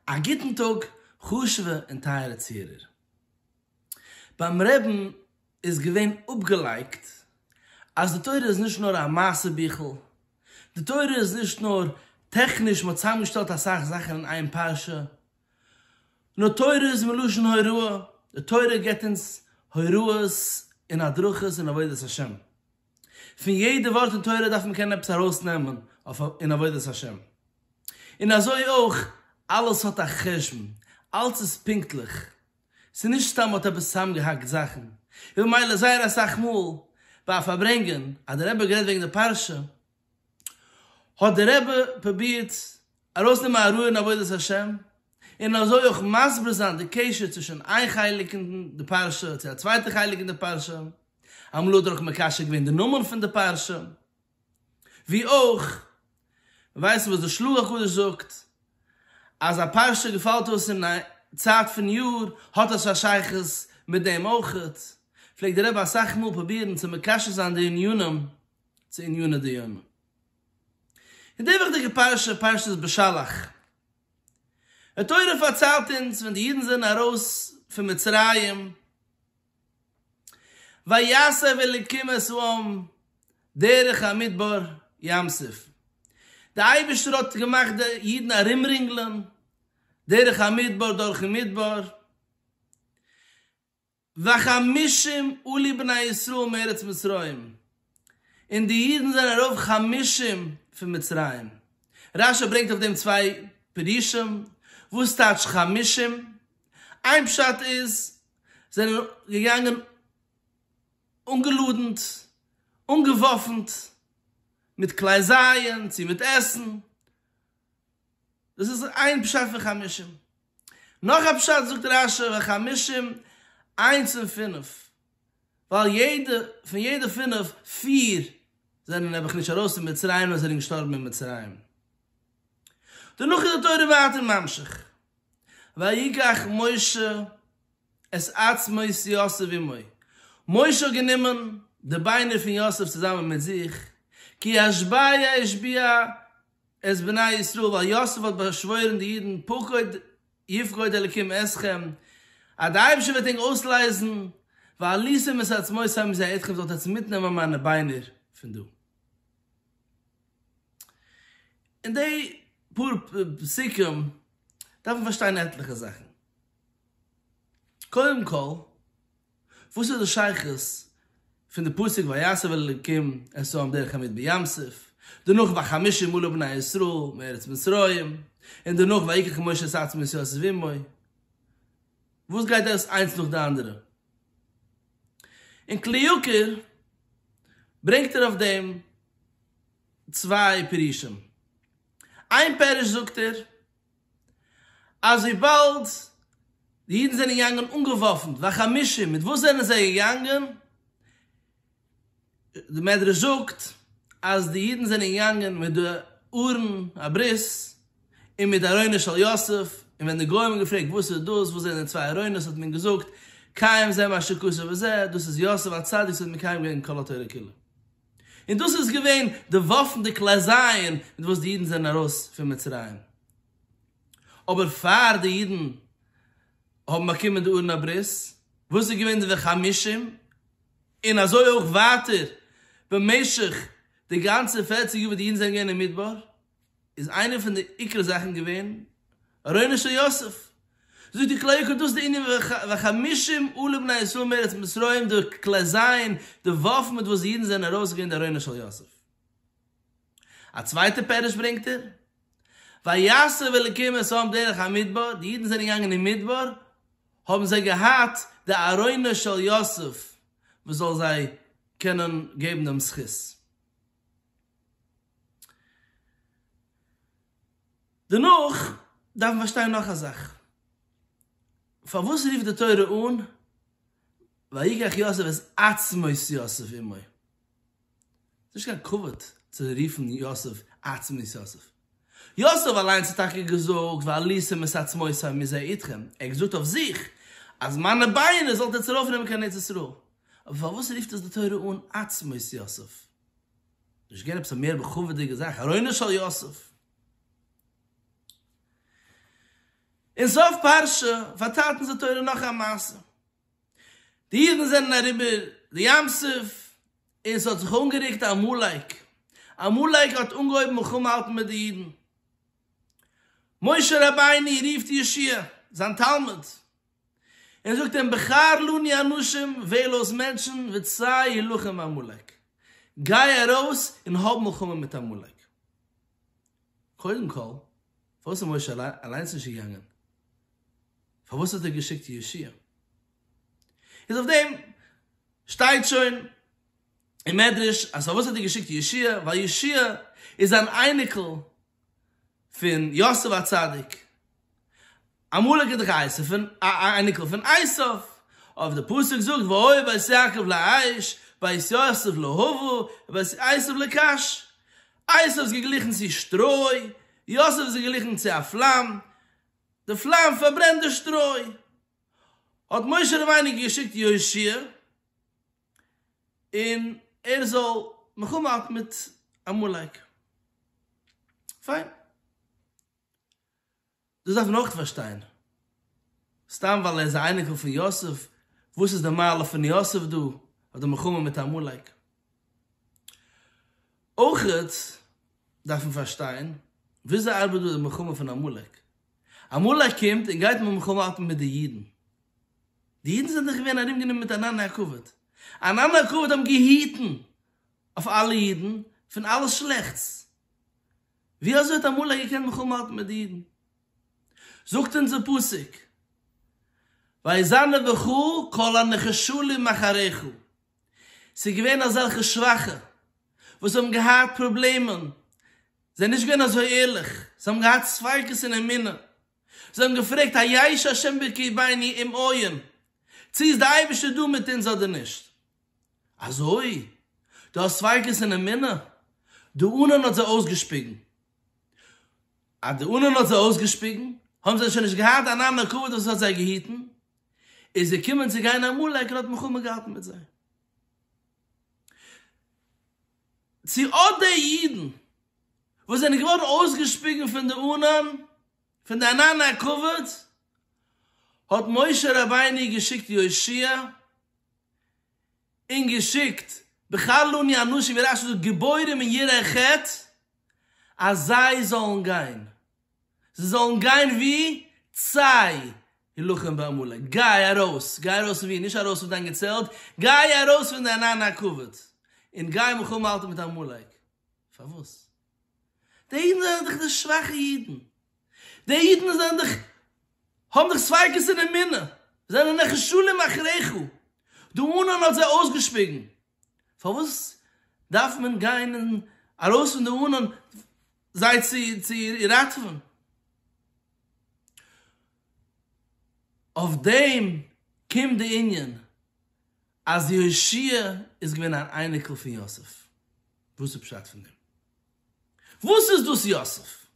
א גוטן טאג חשוב'ע און טייערע צוהערער. ביים רעבן איז געווען אפגעלייגט אז די תורה איז נישט נאר א מעשה ביכל, די תורה איז נישט נאר טעכניש מ'האט צוזאמגעשטעלט אסאך זאכן אין איין פרשה, נאר תורה איז מלשון הוראה, די תורה געבט אונז הוראות און הדרכות אין עבודת השם. פון יעדע ווארט אין תורה דארף מען קענען עפעס ארויסנעמען אין עבודת השם, און אזוי אויך אלעס האט א חשבון, אלס איז פונקטליך, ס'איז נישט סתם מ'האט עפעס צוזאמגעהאקט זאכן, און ממילא זייער אסאך מאל ביי א פארברענגען אז דער רבי האט גערעדט וועגן די פרשה, האט דער רבי פרובירט ארויסנעמען א רעוא אין עבודת השם, און אזוי אויך מסביר זיין די קשר צווישן איין חלק אין די פרשה צו א צווייטע חלק אין די פרשה, אמאל האט ער אויך מקשר געווען די נאמען פון די פרשה, ווי אויך ווייסן וואס די שלוח הקדוש זאגט אז א פרשה וואס געפאלט אויס אין א צייט פון יאר האט עס א שייכות מיט דעם אויך, פלעגט דער רבי אסאך מאל פרובירן צו מקשר זיין די ענינים. צו עניני דיומא. אין די וויכטיגע פרשה, פרשת בשלח, די תורה פארציילט אונז ווען די אידן זענען ארויס פון מצרים, ויסב אלקים את העם דרך המדבר ים סוף, די אייבערשטער האט געמאכט די אידן ארומרינגלען דרך המדבר דורכן מדבר, וחמשים עלו בני ישראל מארץ מצרים, און די אידן זענען ארויף חמשים פון מצרים. רשי ברענגט אויף דעם צוויי פירושים, וואס טייטש חמשים? איין פשט איז, זענען געגאנגען אנגעלאדנט, אנגעוואפנט, מיט כלי זיון צו מיט עסן, דאס איז איין פשט פון חמשים. נאך א פשט זאגט רש י ביי חמשים, איינס און פינף, ווייל יעדע, פון יעדע פינף, פיר זענען נעבעך נישט ארויס פון מצרים נאר זענען געשטארבן אין מצרים. דערנאך איז די תורה ווייטער ממשיך, ויקח משה את עצמות יוסף עמו, משה האט גענומען די ביינער פון יוסף צוזאמען מיט זיך, כי השביה השביה, את בני ישראל, ווייל יוסף האט באשוואוירן די אידן פקוד יפקוד אלקים אתכם, אז דער אייבערשטער וועט ענק אויסלייזן, ועליתם את עצמות העם זה אתכם, זאלט עטס מיטנעמען מיינע ביינער פון דא. אין די פאר פסוקים דארף מען פארשטיין עטליכע זאכן. קודם כל, וואס איז די שייכות פון די פסוק ויסב אל אלקים עשאם דרך המית בים סוף, דערנאך וחמשים אלף בני ישראל מארץ מצרים, און דערנאך ויקח משה את עצמו ישראל אל סביב עמו, וואס גייט דאס איינס נאך די אנדערע? און כלי יקר ברענגט ער אויף דעם צוויי פירושים, איין פירוש זאגט ער אז וויבאלד די אידן זענען געגאנגען אנגעוואפנט והחמושים, מיט וואס זענען זיי געגאנגען? די מדרש זאגט אז די אידן זענען געגאנגען מיט די ארון הברית און מיט ארונו של יוסף, און ווען די גוים האבן געפרעגט וואס איז דאס, וואס זענען די צוויי ארונות, האט מען געזאגט, קיים זה מה שכתוב וזה, דאס איז יוסף הצדיק וואס האט מקיים געווען כל התורה כולה. און דאס איז געווען די וואפן די כלי זיין מיט וואס די אידן זענען ארויס פון מצרים, אבער פאר די אידן האבן באקומען די ארון הברית וואס איז געווען די וחמשים, און אזוי אויך ווייטער במשך די גאנצע פערציג יאר וואס די אידן זענען געווען אין מדבר, איז איינע פון די עיקר זאכן געווען ארונו של יוסף. זאגט די כלי יקר דאס די ענין וחמישים אלף בני ישראל מארץ מצרים די כלי זיין די וואפן מיט וואס די אידן זענען ארויס געגאנגען די ארונו של יוסף. א צווייטע פירוש ברענגט ער ויסעו אלקים את העם דרך המדבר די אידן זענען געגאנגען אין מדבר האבן זיי געהאט די ארונו של יוסף וואס זאל זיי קענען געבן דעם זכות. דערנאך דארף מען פארשטיין נאך א זאך, פארוואס רופט די תורה אן ויקח יוסף את עצמות יוסף עמו? ס'נישט קיין כבוד צו רופן יוסף עצמות יוסף. יוסף אליינס האט טאקע געזאגט ועלי שימת עצמותי מזה איתכם, ער האט געזאגט אויף זיך אז מיינע ביינער זאלט איר צורויף נעמען קיין ארץ ישראל, אבער פארוואס רופט עס די תורה אן עצמות יוסף? נישט געווען עפעס א מער בכבוד'דיגע זאך ארונו של יוסף? אין סוף פרשה פארציילט אונז די תורה נאך א מעשה, די אידן זענען אריבער די ים סוף, און ס'האט זיך אנגעריקט עמלק, עמלק האט אנגעהויבן מלחמה האלטן מיט די אידן, משה רבינו רופט ישעי' זיין תלמיד, און זאגט אים בחר לנו אנשים, וועל אויס מענטשן, וצא הילחם עמלק, גיי ארויס און האב מלחמה מיט עמלק, קודם כל פארוואס איז משה אליינס נישט געגאנגען? פארוואס האט ער געשיקט ישעי'? איז אויף דעם שטייט שוין אין מדרש אז פארוואס האט ער געשיקט ישעי' ווייל ישעי' איז אן אייניקל פון יוסף הצדיק, עמלק איז דאך א אייניקל פון עשו, אויב די פסוק זאגט והוי בית יעקב לאיש בית יוסף להבה ובית עשו לקש, עשו איז געגליכן צו שטרוי, יוסף איז געגליכן צו א פלאם, די פלאם פארברענט די שטרוי. האט משה רבינו געשיקט יהושע און ער זאל מלחמה האלטן מיט עמלק. פיין. דאס דארף מען אויך פארשטיין. סתם ווייל ער איז א אייניקל פון יוסף, וואס איז די מעלה פון יוסף דא, אויף די מלחמה מיט עמלק? אויך דארף מען פארשטיין וויאזוי ארבעט דא די מלחמה פון עמלק. עמלק קומט און גייט מיט מלחמה האלטן מיט די אידן. די אידן זענען דאך געווען ארומגענומען מיט ענני הכבוד. ענני הכבוד האבן געהיטן אויף אלע אידן פון אלעס שלעכטס. ווי אזוי האט עמלק געקענט מלחמה האלטן מיט די אידן? זאגט אונז די פסוק ויזנב וכו' כל הנחשלים אחריך. ס'איז געווען אזעלכע שוואכע וואס האבן געהאט פראבלעמען, זיי נישט געווען אזוי ערליך, זיי האבן געהאט ספיקות אין אמונה, זיי האבן געפרעגט א יש השם בקרבינו אם עיון, צו איז די אייבערשטער דא מיט אונז אדער נישט. אזוי? דו האסט ספיקות אין אמונה? די אנהן האט זיי אויסגעשפיגן. אז די אנהן האט זיי אויסגעשפיגן, האבן זיי שוין נישט געהאט אן אנא כבוד וואס האט זיי געהיטן, איז געקומען צו גיין עמלק און האט מלחמה געהאט מיט זיי. צו אט די אידן וואס זענען געווארן אויסגעשפיגן פון די ענן, פון די ענן הכבוד, האט משה רבינו געשיקט יושע, און געשיקט בחלוני אנשים ווי רשי זאגט גיבורים אין ירח חטא, אז זיי זאלן גיין זיי זאלן גיין ווי צי הילחם בעמלק, גיי ארויס, גיי ארויס פון ווי, נישט ארויס פון דיין געצעלט, גיי ארויס פון דיין ענן הכבוד, און גיי מלחמה האלטן מיט עמלק. פארוואס? די אידן זענען דאך די שוואכע אידן, די אידן זענען דאך, האבן דאך ספיקות אין אמונה, זענען נחשלים אחריך, דו ענן האט זיי אויסגעשפיגן, פארוואס דארף מען גיין און ארויס פון די ארון זיי צו ראטעווען? אויף דעם קומט די ענין אז יהושע איז געווען אן אייניקל פון יוסף. וואס איז פשט פון דעם? וואס איז דאס יוסף?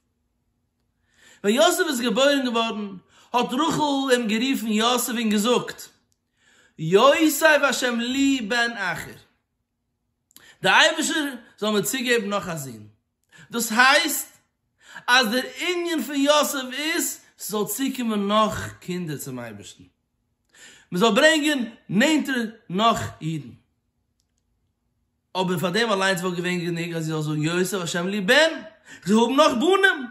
ווען יוסף איז געבוירן געווארן האט רחל אים גערופן יוסף און געזאגט, יוסיף השם לי בן אחר, דער אייבערשטער זאל מיר צוגעבן נאך א זון, דאס הייסט אז דער ענין פון יוסיף איז ס'זאל צוקומען נאך קינדער צום אייבערשטן, מען זאל ברענגען נענטער נאך אידן, אבער פאר דעם אליינס וואלט געווען גענוג אז איך זאל זאגן יוסיף השם לי בן, איך זאל האבן נאך בנים,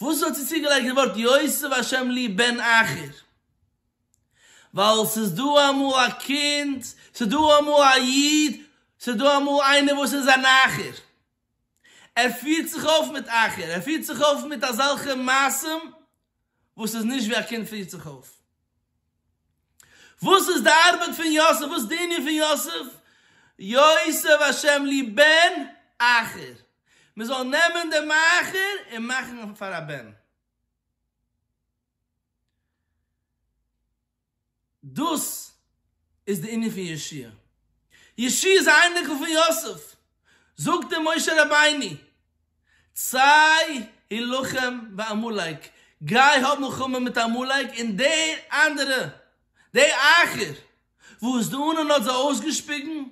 וואס האט זי צוגעלייגט די ווארט יוסיף השם לי בן אחר? ווייל ס'איז דא אמאל א קינד, ס'איז דא אמאל א איד, ס'איז דא אמאל איינער וואס איז אן אחר. ער פירט זיך אויף מיט אחר, ער פירט זיך אויף מיט אזעלכע מעשים וואס איז נישט ווי א קינד פירט זיך אויף. וואס איז די ארבעט פון יוסף? וואס די ענין פון יוסף? יוסף השם לי בן אחר, מען זאל נעמען דעם אחר און מאכן אים פאר א בן. דאס איז די ענין פון ישי. ישי איז א אייניקל פון יוסף. זאגט אים משה רבינו. צי הילחם בעמלק, גיי האב מלחמה מיט עמלק, און די אנדערע, די אייכער, וואס די אנון האט זיי אויסגעשפיגן,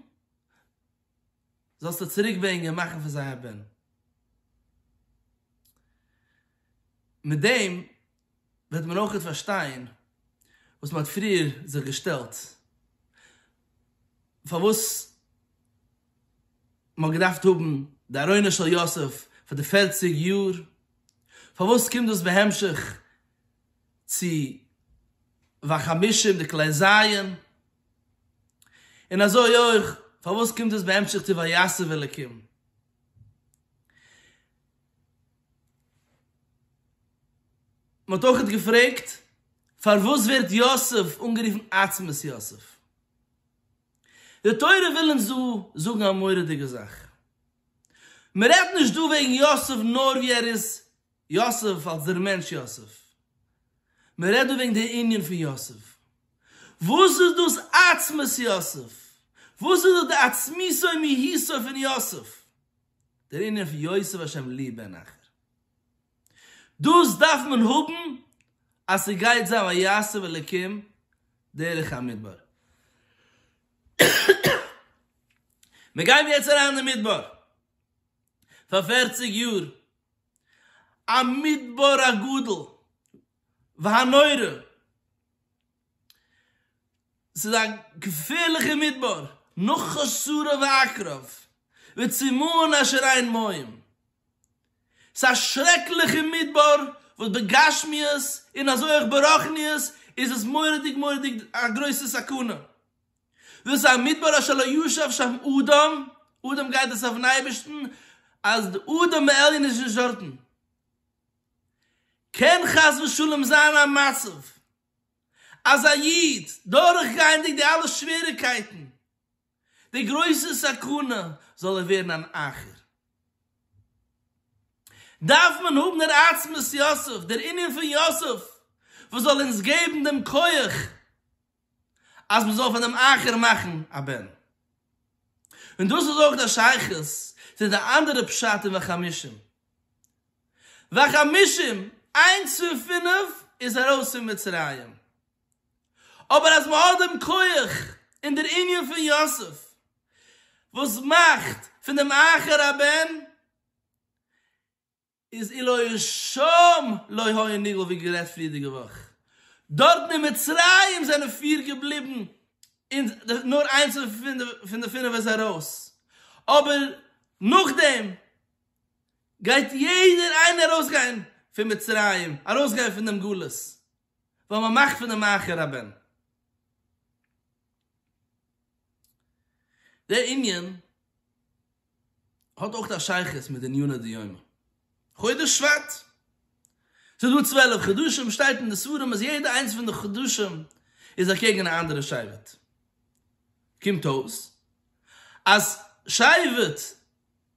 זאלסטו צוריקברענגען און מאכן פון זיי א בן. מיט דעם וועט מען אויך פארשטיין וואס מען האט פריער זיך געשטעלט פארוואס מען האט געדארפט האבן די ארוינות של יוסף פאר די פערציג יאר, פארוואס קומט דאס בהמשך צו והחמישים די כלי זיון, און אזוי אויך פארוואס קומט דאס בהמשך צו ויסב אלקים, מען האט אויכעט געפרעגט פארוואס ווערט יוסף אנגערופן עצמות יוסף. די תורה וויל אונז דא זאגן א מורא'דיגע זאך. מען רעדט נישט דא וועגן יוסף נאר ווי ער איז יוסף אלס דער מענטש יוסף. מען רעדט דא וועגן דער ענין פון יוסף. וואס איז דאס עצמות יוסף? וואס איז דאס די עצמיתו מהיתו פון יוסף? דער ענין פון יוסף השם לי בן אחר. דאס דארף מען האבן אז ס'גייט זיין ויסב אלקים דרך המדבר. מיר גייען יעצט אריין אין מדבר פאר פערציג יאר, א מדבר הגדול והנורא, ס'איז א געפערליכער מדבר, נאך חצרה ועקרב, וצימאון אשר אין מים. ס'איז א שרעקליכער מדבר וואס בגשמיות און אזוי אויך ברחניות איז עס מורא'דיג מורא'דיג א גרויסע סכנה. דאס א מדבר אשר לא ישב שם אדם, אדם גייט דאס אויפן אייבערשטן אז די אדם העליון איז נישט דארטן. קען חס ושלום זיין א מצב אז א איד, דורכגייענדיג די אלע שוועריגקייטן, די גרויסע סכנה, זאל ער ווערן אן אחר. דארף מען האבן דער עצמות יוסף, דער ענין פון יוסף, וואס זאל אונז געבן דעם כח אז מען זאל פון דעם אחר מאכן א בן. און דאס איז אויך דער שייכות צו די אנדערע פשט אין וחמישים. והחמשים, איינס פון פינף איז ארויס פון מצרים. אבער אז מ'האט דעם כח און דער ענין פון יוסף וואס מאכט פון דעם אחר הבן, איז אילו ישום לא היה נגלה ווי גערעדט פריערדיגע וואך. דארטן אין מצרים זענען פיר געבליבן און נאר איינס פון די פינף איז ארויס. אבער נאכדעם. גייט יעדער איינער ארויסגיין פון מצרים, ארויסגיין פון דעם גלות, ווייל מען מאכט פון אים אחר הבן. דער ענין האט אויך א שייכות מיט די עניני דיומא. חודש שבט, ס'איז דא צוועלף חדשים, שטייט אין די ספרים אז יעדע איינס פון די חדשים איז אקעגן א אנדערע שבט. קומט אויס אז שבט.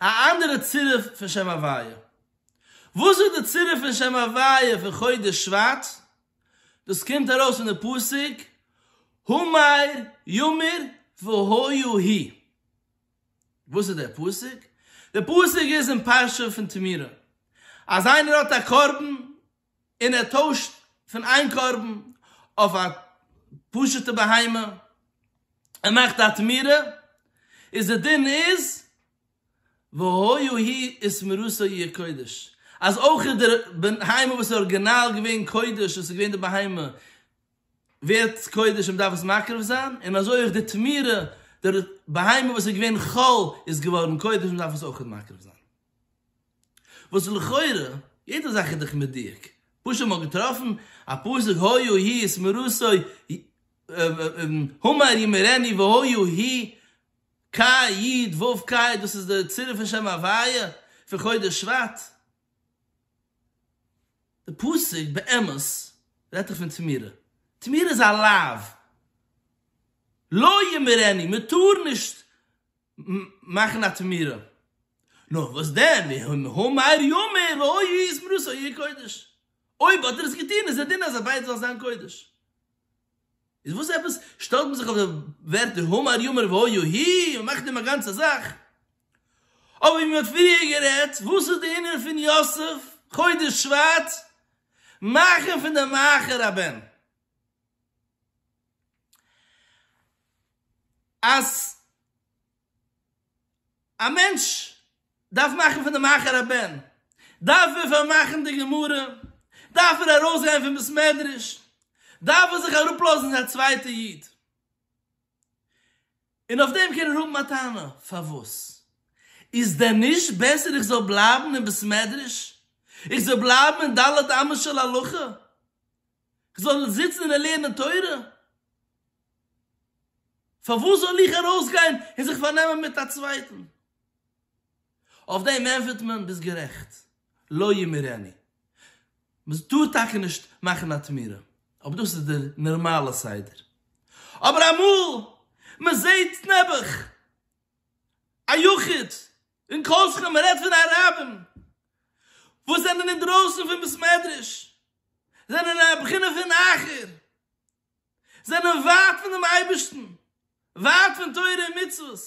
א אנדערע צירוף פון שם הוויה. וואס איז די צירוף פון שם הוויה פון חודש שבט? דאס קומט ארויס פון די פסוק הומאיר יאמיר והויו הי'. וואס איז דער פסוק? דער פסוק איז אין פרשה פון תמירה. אז איינער האט א קרבן און ער טוישט פון איין קרבן אויף א פשוט'ע בהמה, ער מאכט א תמורה, איז די דין איז והיו היא את מרותו יהיה קודש, אז אויך איז די בהמה וואס איז ארגינאל געווען קודש, וואס איז געווען די בהמה, ווערט קודש און מען דארף עס מקריב זיין, און אזוי אויך די תמורה, די בהמה וואס איז געווען חול איז געווארן קודש און מען דארף עס אויך מקריב זיין. וואס לכאורה יעדע זאך איז דאך מדויק, פשוט מ'האט געטראפן א פסוק היה היא את מרוסו הומאר ימרני והיה היא ק י ד ו כ י דאס איז די צירוף פון שם הוויה פון חודש שבט, די פסוק באמת רעדט דאך פון תמורה, תמורה איז א לאו, לא ימרני, מ'טאר נישט מאכן א תמירה, נו וואס דען ואם הוא מאיר יאמר ראוי היא זמרתו יהיה קודש, אויב האט ער עס געטון איז א דין אז א ביידע זאל זיין קודש, איז וואס עפעס שטעלט מען זיך אויף די ווערטער הוא מאיר יאמר והיו היא און מאכט דעם א גאנצע זאך, אבער ווי מען האט פריער גערעדט וואס איז די ענין פון יוסף חודש שבט מאכן פון די מאחר הבן? אז א מענטש דארף מאכן פון די מאחורי הבן, דארף ער פארמאכן די גמרא, דארף ער ארויסגיין פון בית מדרש, דארף ער זיך אראפלאזן א צווייטע איד, און אויף דעם קען ער האבן א טענה, פארוואס? איז דען נישט בעסער איך זאל בלייבן אין בית מדרש, איך זאל בלייבן אין ד' אמות של הלכה? כ'זאל זיצן און לערנען תורה? פארוואס זאל איך ארויסגיין און זיך פארנעמען מיט א צווייטן? אויף דעם ענטפערט מען, ביסט גערעכט, לא ימירני. מען טאר טאקע נישט מאכן א תמורה, אבער דאס איז דער נארמאלער סדר. אבער אמאל מען זעט נעבעך א יחיד, און כל שכן מען רעדט פון אראבען וואס זענען אינדרויסן פון בית מדרש זענען א בחינה פון אחר זענען ווייט פון דעם אייבערשטן ווייט פון תורה און מצוות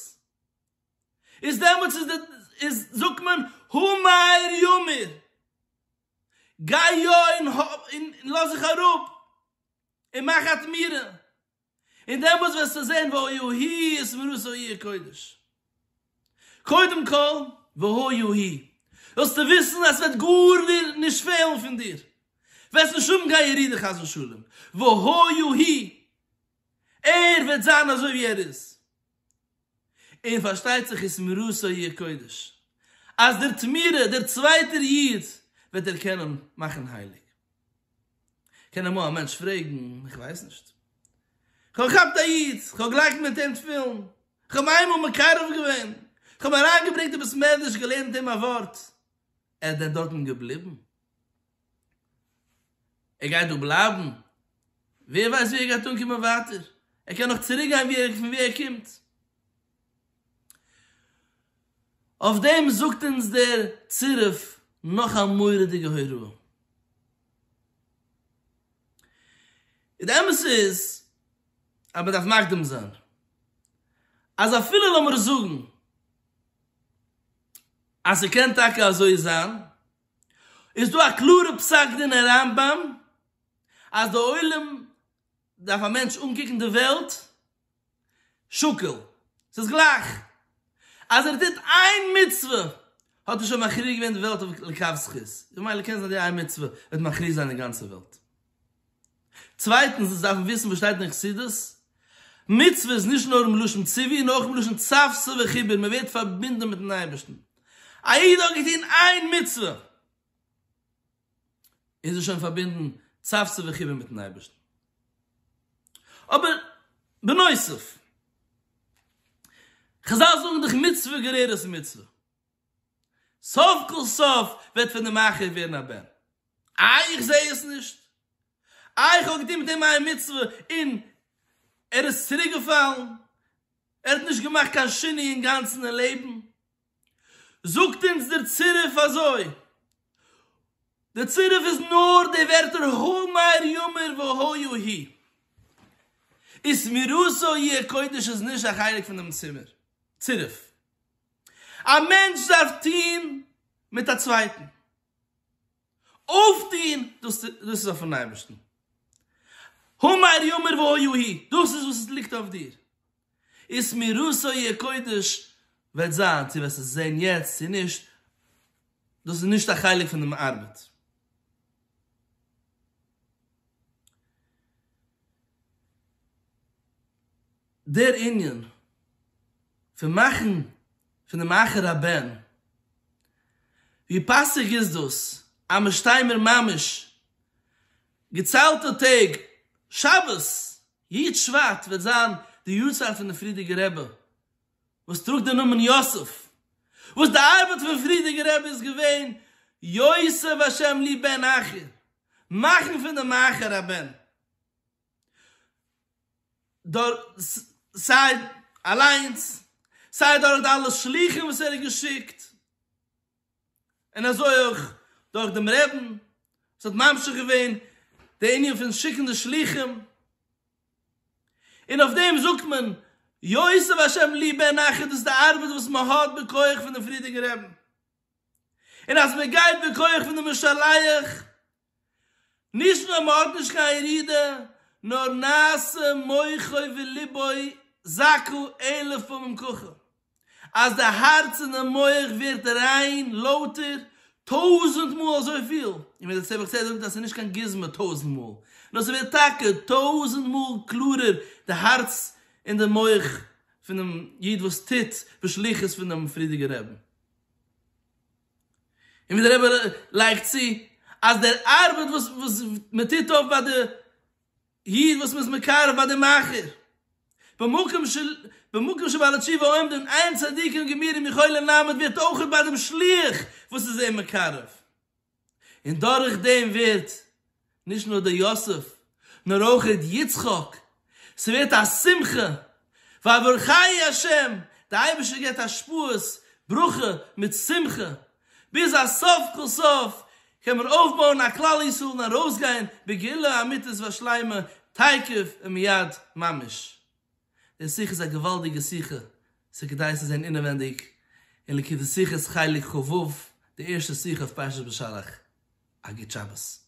איז דעמאלטס איז די איז זאגט מען האמר יאמר גיי יא און לאז זיך אראפ און מאך א תמירה און דעמאלטס וועסטו זען והא יהי' איז מראות א עיר קודש. קודם כל, והא יהי', זאלסטו וויסן אז ס'וועט גאר נישט פעלן פון דיר, וועסט נישט האבן קיין ירידה חס ושלום, והא יהי' ער וועט זיין אזוי ווי ער איז. און פארשטייט זיך איז מראות א י קודש אז דער תמורה דער צווייטער איד וועט ער קענען מאכן הייליג. קען אמאל א מענטש פרעגן, איך ווייס נישט, כ'האב געכאפט א איד, כ'האב געלייגט מיט אים תפילין, כ'האב אים איינמאל מקרב געווען, כ'האב אים אריינגעברענגט אין בית מדרש, געלערנט אים א ווארט, ער איז דען דארטן געבליבן? ער גייט דא בלייבן? ווער ווייסט ווי ער גייט אנקומען ווייטער? ער קען נאך צוריק גיין ווי ער פון ווי ער קומט? אויף דעם זאגט אונז דער צירוף נאך א מורא'דיגע הוראה. און די אמת איז, אז מען דארף מקדים זיין, אז אפילו לאמיר זאגן, אז ס'קען טאקע אזוי זיין, איז דא א קלארע פסק דין אין רמב ם אז די עולם דארף א מענטש אנקוקן די וועלט שקול, ס'איז גלייך אז ער טוט איין מצוה האט ער שוין מכריע געווען די וועלט אויף לקו זכות, ממילא קען זיין די איין מצוה וועט מכריע זיין די גאנצע וועלט. צווייטנס אונז דארפן וויסן וואס שטייט אין חסידות, מצוה איז נישט נאר אין לשון ציווי און אויך אין לשון צוותא וחיבור, מען ווערט פארבינדן מיטן אייבערשטן, א איד האט געטון איין מצוה איז ער שוין פארבינדן צוותא וחיבור מיטן אייבערשטן, אבער בנוסף, חזל זאגן דאך מצוה גוררת מצוה. סוף כל סוף וועט פון אים אייכער ווערן א בן. איי איך זע עס נישט? איי איך האב געטון מיט אים איין מצוה און ער איז צוריק געפאלן? ער האט נישט געמאכט קיין שינוי אינגאנצן אין לעבן? זאגט אונז דער צירוף אזוי, דער צירוף איז נאר די ווערטער האמר יאמר והא יהי'. ושמירתו יהיה קודש איז נישט א חלק פון דעם צירוף. א מענטש דארף טון מיט א צווייטן, אויפטון, דאס איז אויפן אייבערשטן, האמר יאמר והיה הי', דאס איז וואס עס ליגט אויף דיר, איז מיראת ה' הקודש וועט זיין, צו וועסט עס זען יעצט צו נישט, דאס איז נישט א חלק פון דעם ארבעט. דער ענין פון מאכן פון דעם אחר הבן, ווי פאסיג איז דאס אז מען שטיי מיר ממש געציילטע טעג שבת י ט שבט וועט זיין די יארצייט פון דער פריערדיגער רבי וואס טראגט דעם נאמען יוסף, וואס די ארבעט פון פריערדיגער רבי איז געווען יוסף השם לי בן אחר, מאכן פון דעם אחר הבן. סיי אליינס סיי דורך די אלע שלוחים וואס ער האט געשיקט, און אזוי אויך דורך דעם רעבין וואס האט ממשיך געווען די ענין פון שיקן די שלוחים, און אויף דעם זאגט מען יוסיף השם לי בן אחר דאס איז די ארבעט וואס מען האט בכח פון דעם פריערדיגן רעבין, און אז מען גייט בכח פון די משלח. נישט נאר מ'האט נישט קיין ירידה, נאר נעשה מוחו ולבו זכו אלף פעמים ככה, אז די הארץ און די מוח ווערט ריין, לויטער, טויזענט מאל אזויפיל, און ווי דער צמח צדק זאגט אז ס'איז נישט קיין גוזמא טויזענט מאל, נאר ס'ווערט טאקע טויזענט מאל קלארער די הארץ און די מוח פונעם איד וואס טוט בשליחות פונעם פריערדיגער רבי. און ווי דער רבי לייגט צו אז דער ארבעט וואס וואס מען טוט אויף ביי די איד וואס מען איז מקרב ביי די מאכער, במקום של במקום שבעלי תשובה עומדין עיין צדיקים גמירים יכולין ל' ווערט אויך ביי דעם שליח וואס איז אים מקרב, און דורך דעם ווערט נישט נאר דער יוסף, נאר אויך ר' יצחק, ס'ווערט א שמחה, ווייל ברוך חיי השם, דער אייבערשטער געבט השפעות, ברכה מיט שמחה, ביז אז סוף כל סוף קען מען אויפבויען א כלל ישראל און ארויסגיין בגאולה אמיתית ושלימה תיכף ומיד ממש. דער שיחה איז א געוואלדיגע שיחה, ס'כדאי צו זען אינעווענדיג אין ליקוטי שיחות חלק ח ו, די ערשטע שיחה אויף פרשת בשלח, א גוט שבת.